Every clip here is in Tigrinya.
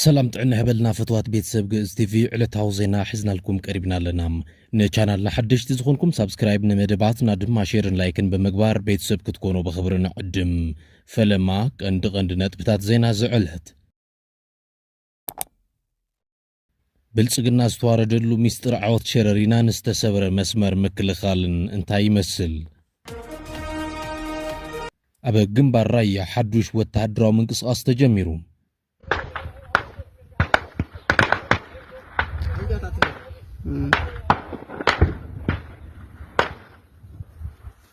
ሰላም ጥዕና ይሕበልና ፈትዋት ቤተሰብ ግእዝ ቲቪ ዕለታዊ ዜና ሒዝናልኩም ቀሪብና ኣለና ንቻናልና ሓደሽቲ ዝኾንኩም ሳብስክራይብ ንመደባትና ድማ ሼርን ላይክን ብምግባር ቤተሰብ ክትኮኑ ብኽብሪ ንዕድም ፈለማ ቀንዲ ቀንዲ ነጥብታት ዜና ዝዕለት ብልፅግና ዝተዋረደሉ ሚስጥር ዓወት ሸረሪናን ዝተሰብረ መስመር ምክልኻልን እንታይ ይመስል? ኣብ ግንባር ራያ ሓዱሽ ወተሃደራዊ ምንቅስቓስ ተጀሚሩ።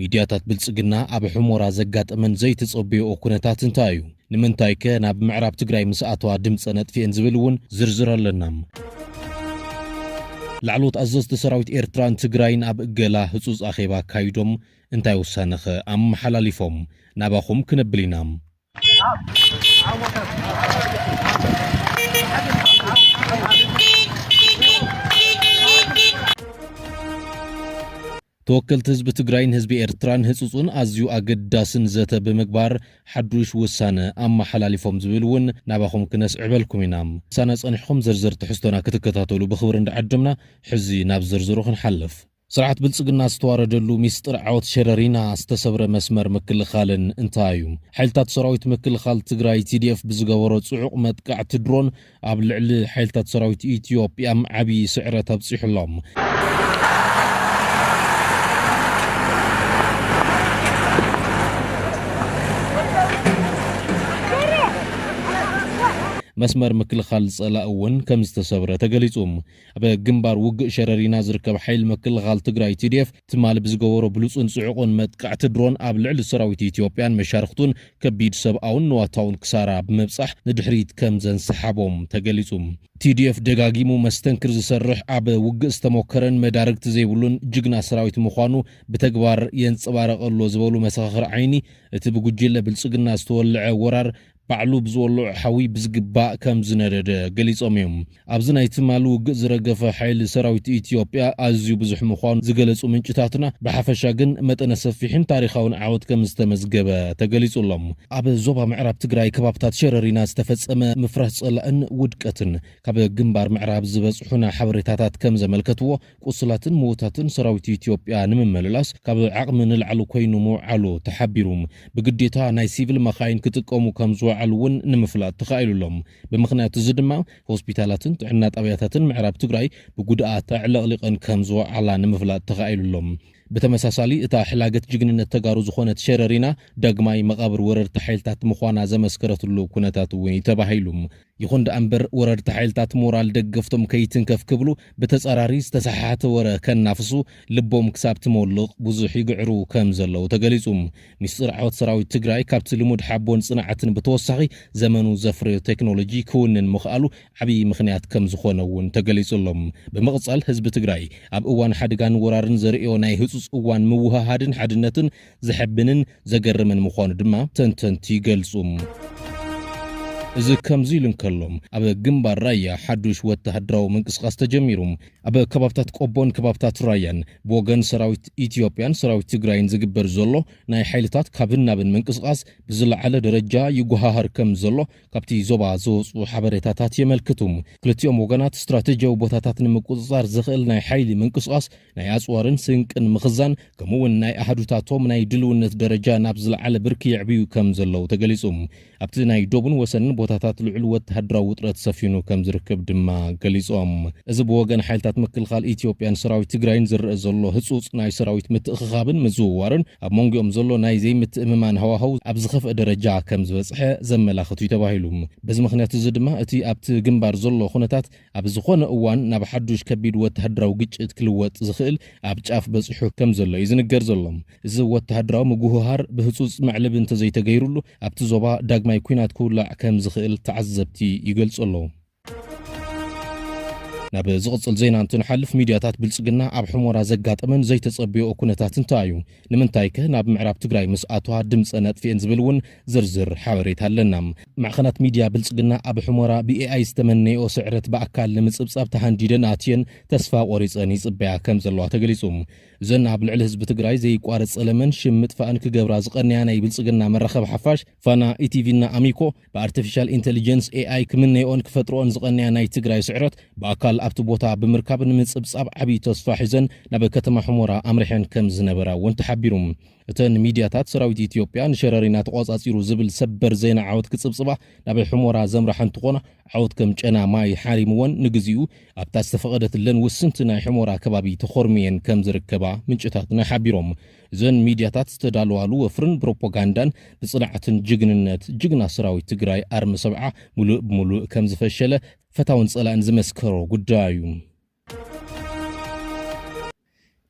ሚድያታት ብልፅግና ኣብ ሑሞራ ዘጋጠመን ዘይተፀበየኦ ኩነታት እንታይ እዩ? ንምንታይከ ናብ ምዕራብ ትግራይ ምስ ኣተዋ ድምፀን ኣጥፊኤን ዝብል እውን ዝርዝር ኣለና። ላዕለዎት ኣዘዝቲ ሰራዊት ኤርትራን ትግራይን ኣብ እገላ ህጹጽ ኣኼባ ኣካይዶም እንታይ ውሳነ'ኸ ኣመሓላሊፎም? ናባኹም ክነብል ኢና። ተወከልቲ ህዝቢ ትግራይን ህዝቢ ኤርትራን ህጹጹን ኣዝዩ ኣገዳስን ዘተ ብምግባር ሓዱሽ ውሳነ ኣመሓላሊፎም ዝብል እውን ናባኹም ክነስዕበልኩም ኢና ሳና ጸኒሕኹም ዝርዝር ትሕዝቶና ክትከታተሉ ብኽብሪ እንዳዓደምና ሕዚ ናብ ዝርዝሩ ክንሓልፍ ስርዓት ብልፅግና ዝተዋረደሉ ሚስጥር ዓወት ሸረሪና ዝተሰብረ መስመር ምክልኻልን እንታይ እዩ? ሓይልታት ሰራዊት ምክልኻል ትግራይ፣ TDF፣ ብዝገበሮ ፅዑቕ መጥቃዕቲ ድሮን ኣብ ልዕሊ ሓይልታት ሰራዊት ኢትዮጵያም ዓብዪ ስዕረት ኣብፂሑ ኣሎ። መስመር ምክልኻል ፀላኢ እውን ከምዝተሰብረ ተገሊፁ። ኣብ ግንባር ውግእ ሸረሪና ዝርከብ ሓይሊ ምክልኻል ትግራይ፣ TDF፣ ትማሊ ብዝገበሮ ብሉጽን ጽዑቕን መጥቃዕቲ ድሮን ኣብ ልዕሊ ሰራዊት ኢትዮጵያን መሻርኽቱን ከቢድ ሰብኣውን ንዋታውን ክሳራ ብምብጻሕ ንድሕሪት ከም ዘንሰሓቦም ተገሊጹ። TDF ደጋጊሙ መስተንክር ዝሰርሕ፣ ኣብ ውግእ ዝተሞከረን መዳርግቲ ዘይብሉን ጅግና ሰራዊት ምዃኑ ብተግባር የንጸባርቕ ኣሎ ዝበሉ መሰኻኽር ዓይኒ፣ እቲ ብጉጅለ ብልጽግና ዝተወልዐ ወራር፣ ባዕሉ ብዝወልዖ ሓዊ ብዝግባእ ከም ዝነደደ ገሊጾም እዮም። ኣብዚ ናይ ትማሊ ውግእ ዝረገፈ ሓይሊ ሰራዊት ኢትዮጵያ ኣዝዩ ብዙሕ ምዃኑ ዝገለጹ ምንጭታትና፣ ብሓፈሻ ግን መጠነ ሰፊሕን ታሪኻውን ዓወት ከም ዝተመዝገበ ተገሊጹ ኣሎ። ኣብ ዞባ ምዕራብ ትግራይ ከባብታት ሸረሪና ዝተፈጸመ ምፍራስ ጸላእን ውድቀትን ካብ ግንባር ምዕራብ ዝበጽሑና ሓበሬታታት ከም ዘመልከትዎ፣ ቁስላትን ምዉታትን ሰራዊት ኢትዮጵያ ንምምልላስ ካብ ዓቕሚ ንላዕሊ ኮይኑ ምዉዓሉ ተሓቢሩ። ብግዴታ ናይ ሲቪል መኻይን ክጥቀሙ ከም ዝወዓሉ እውን ንምፍላጥ ተኻኢሉ ኣሎ። ብምኽንያት እዚ ድማ ሆስፒታላትን ጥዕና ጣብያታትን ምዕራብ ትግራይ ብጉድኣት ኣዕለቕሊቐን ከም ዝወዓላ ንምፍላጥ ተኻኢሉ ኣሎ። ብተመሳሳሊ እታ ሕላገት ጅግንነት ተጋሩ ዝኾነት ሸረሪና ዳግማይ መቓብር ወረርቲ ሓይልታት ምዃና ዘመስከረትሉ ኩነታት እውን እዩ ተባሂሉ። ይኹን ደኣ እምበር ወረርቲ ሓይልታት ሞራል ደገፍቶም ከይትንከፍ ክብሉ ብተጻራሪ ዝተሰሓሓተ ወረ ከናፍሱ ልቦም ክሳብ ትሞልቕ ብዙሕ ይግዕሩ ከም ዘለዉ ተገሊጹ። ሚስጥር ዓወት ሰራዊት ትግራይ ካብቲ ልሙድ ሓቦን ጽንዓትን ብተወሳኺ ዘመኑ ዘፍረዮ ቴክኖሎጂ ክውንን ምኽኣሉ ዓብዪ ምኽንያት ከም ዝኾነ እውን ተገሊጹ ኣሎ። ብምቕጻል ህዝቢ ትግራይ ኣብ እዋን ሓደጋን ወራርን ዘርእዮ ናይ ህጹጽ እዋን ምውህሃድን ሓድነትን ዘሕብንን ዘገርምን ምዃኑ ድማ ተንተንቲ ይገልጹ። እዚ ከምዚ ኢሉ እንከሎ ኣብ ግንባር ራያ ሓዱሽ ወተሃደራዊ ምንቅስቓስ ተጀሚሩ። ኣብ ከባብታት ቆቦን ከባብታት ራያን ብወገን ሰራዊት ኢትዮጵያን ሰራዊት ትግራይን ዝግበር ዘሎ ናይ ሓይልታት ካብን ናብን ምንቅስቓስ ብዝለዓለ ደረጃ ይጎሃሃር ከም ዘሎ ካብቲ ዞባ ዝወጽኡ ሓበሬታታት የመልክቱ። ክልቲኦም ወገናት ስትራተጂያዊ ቦታታት ንምቁጽጻር ዘኽእል ናይ ሓይሊ ምንቅስቓስ፣ ናይ ኣጽዋርን ስንቅን ምኽዛን፣ ከምኡ'ውን ናይ ኣሃዱታቶም ናይ ድልውነት ደረጃ ናብ ዝለዓለ ብርኪ የዕብዩ ከም ዘለዉ ተገሊጹ። ኣብቲ ናይ ዶብን ወሰንን ቦታታት ልዑል ወተሃደራዊ ውጥረት ሰፊኑ ከም ዝርከብ ድማ ገሊጾም። እዚ ብወገን ሓይልታት ምክልኻል ኢትዮጵያን ሰራዊት ትግራይን ዝረኣ ዘሎ ህጹጽ ናይ ሰራዊት ምትእኽኻብን ምዝውዋርን፣ ኣብ መንጎኦም ዘሎ ናይ ዘይምትእምማን ሃዋህው ኣብ ዝኸፍኣ ደረጃ ከም ዝበጽሐ ዘመላኽት እዩ ተባሂሉ። በዚ ምኽንያት እዚ ድማ እቲ ኣብቲ ግንባር ዘሎ ኩነታት ኣብ ዝኾነ እዋን ናብ ሓዱሽ ከቢድ ወተሃደራዊ ግጭት ክልወጥ ዝኽእል ኣብ ጫፍ በጺሑ ከም ዘሎ እዩ ዝንገር ዘሎ። እዚ ወተሃደራዊ ምጉህሃር ብህጹጽ መዕለቢ እንተዘይተገይሩሉ ኣብቲ ዞባ ዳግማይ ኲናት ክውላዕ ከም ዝኽእል ተዓዘብቲ ይገልጹ ኣለዉ። ናብ ዝቕጽል ዜና እንትንሓልፍ ሚድያታት ብልጽግና ኣብ ሕሞራ ዘጋጠመን ዘይተጸብዮኦ ኩነታት እንታይ እዩ? ንምንታይከ ናብ ምዕራብ ትግራይ ምስ ኣትዋ ድምጸን ኣጥፊኤን ዝብል እውን ዝርዝር ሓበሬታ ኣለና። ማዕኸናት ሚድያ ብልጽግና ኣብ ሕሞራ ብኤኣይ ዝተመነየኦ ስዕረት ብኣካል ንምጽብጻብ ተሃንዲደን ኣትየን ተስፋ ቆሪጸን ይጽበያ ከምዘለዋ ተገሊጹ። እዘን ኣብ ልዕሊ ህዝቢ ትግራይ ዘይቋረጽ ጸለመን ሽም ምጥፋእን ክገብራ ዝቐነያ ናይ ብልጽግና መራኸቢ ሓፋሽ ፋና፣ ኢቲቪ እና ኣሚኮ፣ ብኣርተፊሻል ኢንተሊጀንስ፣ ኤኣይ፣ ክምነይኦን ክፈጥርኦን ዝቐነያ ናይ ትግራይ ስዕረት ብኣካል ኣብቲ ቦታ ብምርካብ ንምፅብፃብ ዓብዪ ተስፋ ሒዘን ናብ ከተማ ሑሞራ ኣምሪሐን ከምዝነበራ እውን ተሓቢሩ። እተን ሚድያታት ሰራዊት ኢትዮጵያ ንሸረሪና ተቖፃፂሩ ዝብል ሰበር ዜና ዓወት ክፅብፅባ ናብ ሑሞራ ዘምራሓ እንትኾና ዓወት ከም ጨና ማይ ሓሪምወን ንግዚኡ ኣብታ ዝተፈቐደትለን ውስንቲ ናይ ሑሞራ ከባቢ ተኾርምየን ከምዝርከባ ምንጭታትና ሓቢሮም። እዘን ሚድያታት ዝተዳለዋሉ ወፍርን ብሮፖጋንዳን ብፅንዓትን ጅግንነት ጅግና ሰራዊት ትግራይ ኣርሚ ሰብዓ ሙሉእ ብሙሉእ ከምዝፈሸለ ፈታውን ፀላእን ዝመስከሮ ጉዳይ እዩ።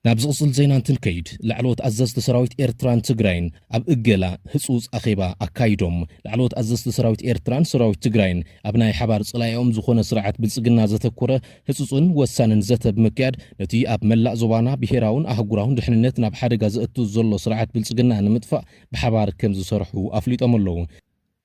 ናብ ዝቕፅል ዜና እንትንከይድ ላዕለዎት ኣዘዝቲ ሰራዊት ኤርትራን ትግራይን ኣብ እገላ ህፁፅ ኣኼባ ኣካይዶም ላዕለዎት ኣዘዝቲ ሰራዊት ኤርትራን ሰራዊት ትግራይን ኣብ ናይ ሓባር ፀላኢኦም ዝኾነ ስርዓት ብልፅግና ዘተኮረ ህጹጽን ወሳንን ዘተ ብምክያድ ነቲ ኣብ መላእ ዞባና ብሄራውን ኣህጉራውን ድሕንነት ናብ ሓደጋ ዘእቱ ዘሎ ስርዓት ብልጽግና ንምጥፋእ ብሓባር ከምዝሰርሑ ኣፍሊጦም ኣለዉ።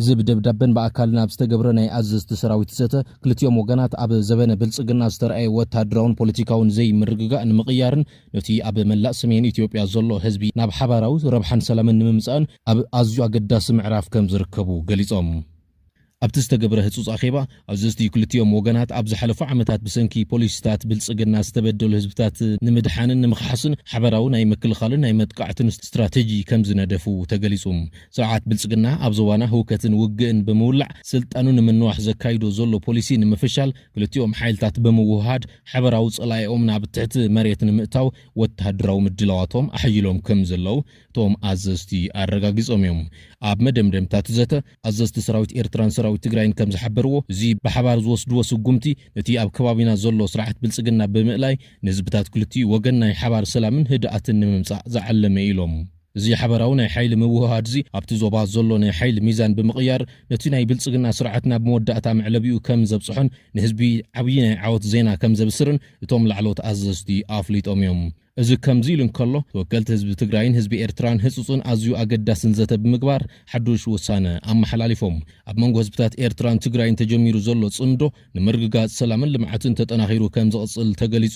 እዚ ብደብዳበን ብኣካልን ኣብ ዝተገብረ ናይ ኣዘዝቲ ሰራዊት ዘተ፣ ክልቲኦም ወገናት ኣብ ዘበነ ብልጽግና ዝተርኣየ ወተሃደራውን ፖለቲካውን ዘይምርግጋእ ንምቕያርን ነቲ ኣብ መላእ ሰሜን ኢትዮጵያ ዘሎ ህዝቢ ናብ ሓባራዊ ረብሓን ሰላምን ንምምጻእን ኣብ ኣዝዩ ኣገዳሲ ምዕራፍ ከምዝርከቡ ገሊጾም። ኣብቲ ዝተገብረ ህጹጽ ኣኼባ፣ ኣዘዝቲ ክልቲኦም ወገናት ኣብ ዝሓለፉ ዓመታት ብሰንኪ ፖሊሲታት ብልጽግና ዝተበደሉ ህዝብታት ንምድሓንን ንምኽሓስን ሓበራዊ ናይ ምክልኻልን ናይ መጥቃዕትን ስትራተጂ ከምዝነደፉ ተገሊጹ። ስርዓት ብልጽግና ኣብ ዞባና ህውከትን ውግእን ብምውላዕ ስልጣኑ ንምንዋሕ ዘካይዶ ዘሎ ፖሊሲ ንምፍሻል ክልቲኦም ሓይልታት ብምውህሃድ ሓበራዊ ጸላኢኦም ናብ ትሕቲ መሬት ንምእታው ወተሃደራዊ ምድላዋቶም ኣሐይሎም ከምዘለው እቶም ኣዘዝቲ ኣረጋጊጾም እዮም። ኣብ መደምደምታ'ቲ ዘተ፣ ኣዘዝቲ ሰራዊት ኤርትራን ሰራዊት ትግራይን ከም ዝሓበርዎ፣ እዚ ብሓባር ዝወስድዎ ስጉምቲ፣ ነቲ ኣብ ከባቢና ዘሎ ስርዓት ብልጽግና ብምእላይ፣ ንህዝብታት ክልቲኡ ወገን ናይ ሓባር ሰላምን ህድኣትን ንምምጻእ ዝዓለመ'ዩ ኢሎም። እዚ ሓባራዊ ናይ ሓይሊ ምውህሃድ'ዚ፣ ኣብቲ ዞባ ዘሎ ናይ ሓይሊ ሚዛን ብምቕያር፣ ነቲ ናይ ብልጽግና ስርዓት ናብ መወዳእታ መዕለቢኡ ከም ዘብጽሖን ንህዝቢ ዓብዪ ናይ ዓወት ዜና ከም ዘብስርን እቶም ላዕለዎት ኣዘዝቲ ኣፍሊጦም'ዮም። እዚ ከምዚ ኢሉ እንከሎ፣ ተወከልቲ ህዝቢ ትግራይን ህዝቢ ኤርትራን ህጹጽን ኣዝዩ ኣገዳስን ዘተ ብምግባር ሓዱሽ ውሳነ ኣመሓላሊፎም። ኣብ መንጎ ህዝብታት ኤርትራን ትግራይን ተጀሚሩ ዘሎ ጽምዶ ንምርግጋጽ ሰላምን ልምዓትን ተጠናኺሩ ከም ዝቕጽል ተገሊጹ።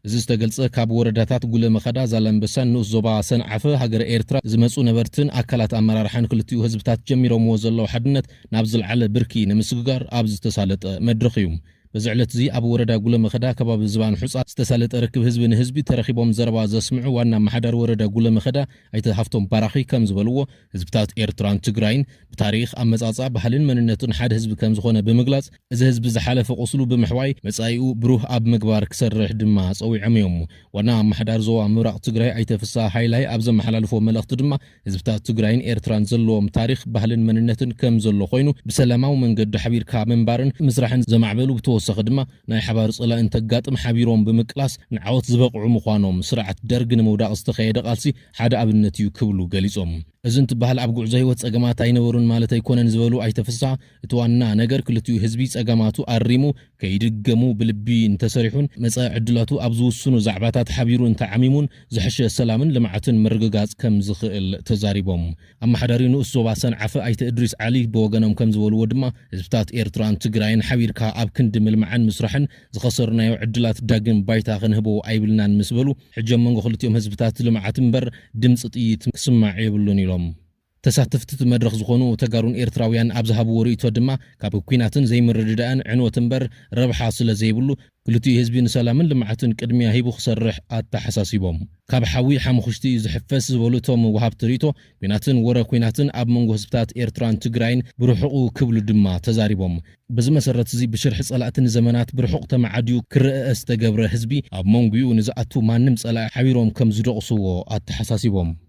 እዚ ዝተገልጸ ካብ ወረዳታት ጉለመኸዳ፣ ዛላምበሳን ንኡስ ዞባ ሰንዓፈ ሃገረ ኤርትራ ዝመጹ ነበርትን ኣካላት ኣመራርሓን ክልቲኡ ህዝብታት ጀሚሮምዎ ዘለዉ ሓድነት ናብ ዝልዓለ ብርኪ ንምስግጋር ኣብ ዝተሳለጠ መድረኽ እዩ። በዚ ዕለት'ዚ ኣብ ወረዳ ጉለመኸዳ ከባቢ ዝባን ሑጻ ዝተሳለጠ ርክብ ህዝቢ ንህዝቢ ተረኺቦም ዘረባ ዘስምዑ ዋና ኣመሓዳሪ ወረዳ ጉለመኸዳ ኣይተ ሃፍቶም ባራኺ ከም ዝበልዎ፣ ህዝብታት ኤርትራን ትግራይን ብታሪኽ፣ ኣመጻጽኣ፣ ባህልን መንነቱን ሓደ ህዝቢ ከም ዝኾነ ብምግላጽ፣ እዚ ህዝቢ ዝሓለፈ ቁስሉ ብምሕዋይ መጻኢኡ ብሩህ ኣብ ምግባር ክሰርሕ ድማ ጸዊዖም እዮም። ዋና ኣመሓዳሪ ዞባ ምብራቕ ትግራይ ኣይተ ፍስሃ ሃይላይ ኣብ ዘመሓላልፎ መልእኽቲ ድማ፣ ህዝብታት ትግራይን ኤርትራን ዘለዎም ታሪኽ፣ ባህልን መንነትን ከም ዘሎ ኮይኑ ብሰላማዊ መንገዲ ሓቢርካ ምንባርን ምስራሕን ዘማዕበሉ ብተወሳኺ ድማ ናይ ሓባር ፀላኢ እንተጋጥም ሓቢሮም ብምቅላስ ንዓወት ዝበቕዑ ምዃኖም ስርዓት ደርግ ንምውዳቕ ዝተኻየደ ቃልሲ ሓደ ኣብነት እዩ ክብሉ ገሊፆም። እዚ እንትበሃል ኣብ ጉዕዞ ህይወት ፀገማት ኣይነበሩን ማለት ኣይኮነን ዝበሉ ኣይተ ፍስሃ፣ እቲ ዋና ነገር ክልቲኡ ህዝቢ ጸገማቱ ኣሪሙ ከይድገሙ ብልቢ እንተሰሪሑን መጻኢ ዕድላቱ ኣብ ዝውስኑ ዛዕባታት ሓቢሩ እንተዓሚሙን ዝሐሸ ሰላምን ልምዓትን ምርግጋጽ ከምዝኽእል ተዛሪቦም። ኣመሓዳሪ ንኡስ ዞባ ሰንዓፈ ኣይተ እድሪስ ዓሊ ብወገኖም ከምዝበልዎ ድማ ህዝብታት ኤርትራን ትግራይን ሓቢርካ ኣብ ክንዲ ምልማዕን ምስራሕን ዝኸሰርናዮ ዕድላት ዳግም ባይታ ክንህቦ ኣይብልናን ምስበሉ ሕጂ ኣብ መንጎ ክልቲኦም ህዝብታት ልምዓት እምበር ድምጺ ጥይት ክስማዕ የብሉን ኢሎም። ተሳተፍቲ'ቲ መድረኽ ዝኾኑ ተጋሩን ኤርትራውያን ኣብ ዝሃብዎ ርእይቶ ድማ፣ ካብ ኲናትን ዘይምርድዳእን ዕንወት እምበር ረብሓ ስለዘይብሉ፣ ክልቲኡ ህዝቢ ንሰላምን ልምዓትን ቅድሚያ ሂቡ ክሰርሕ ኣተሓሳሲቦም። ካብ ሓዊ ሓሙኽሽቲ እዩ ዝሕፈስ ዝበሉ እቶም ወሃብቲ ርእይቶ፣ ኲናትን ወረ ኲናትን ኣብ መንጎ ህዝብታት ኤርትራን ትግራይን ብርሑቑ ክብሉ ድማ ተዛሪቦም። በዚ መሰረት'ዚ ብሽርሒ ጸላእቲ ንዘመናት ብርሑቕ ተመዓድዩ ክረእእ ዝተገብረ ህዝቢ፣ ኣብ መንጉኡ ንዝኣቱ ማንም ጸላኢ ሓቢሮም ከምዝደቑስዎ ኣተሓሳሲቦም።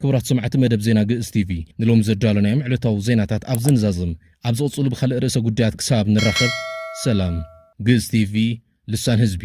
ክቡራት ሰማዕቲ መደብ ዜና ግእዝ ቲቪ፣ ንሎሚ ዘዳሎናዮም ዕለታዊ ዜናታት ኣብዚ ንዛዝም። ኣብ ዝቕጽሉ ብኻልእ ርእሰ ጉዳያት ክሳብ ንራኸብ ሰላም። ግእዝ ቲቪ፣ ልሳን ህዝቢ።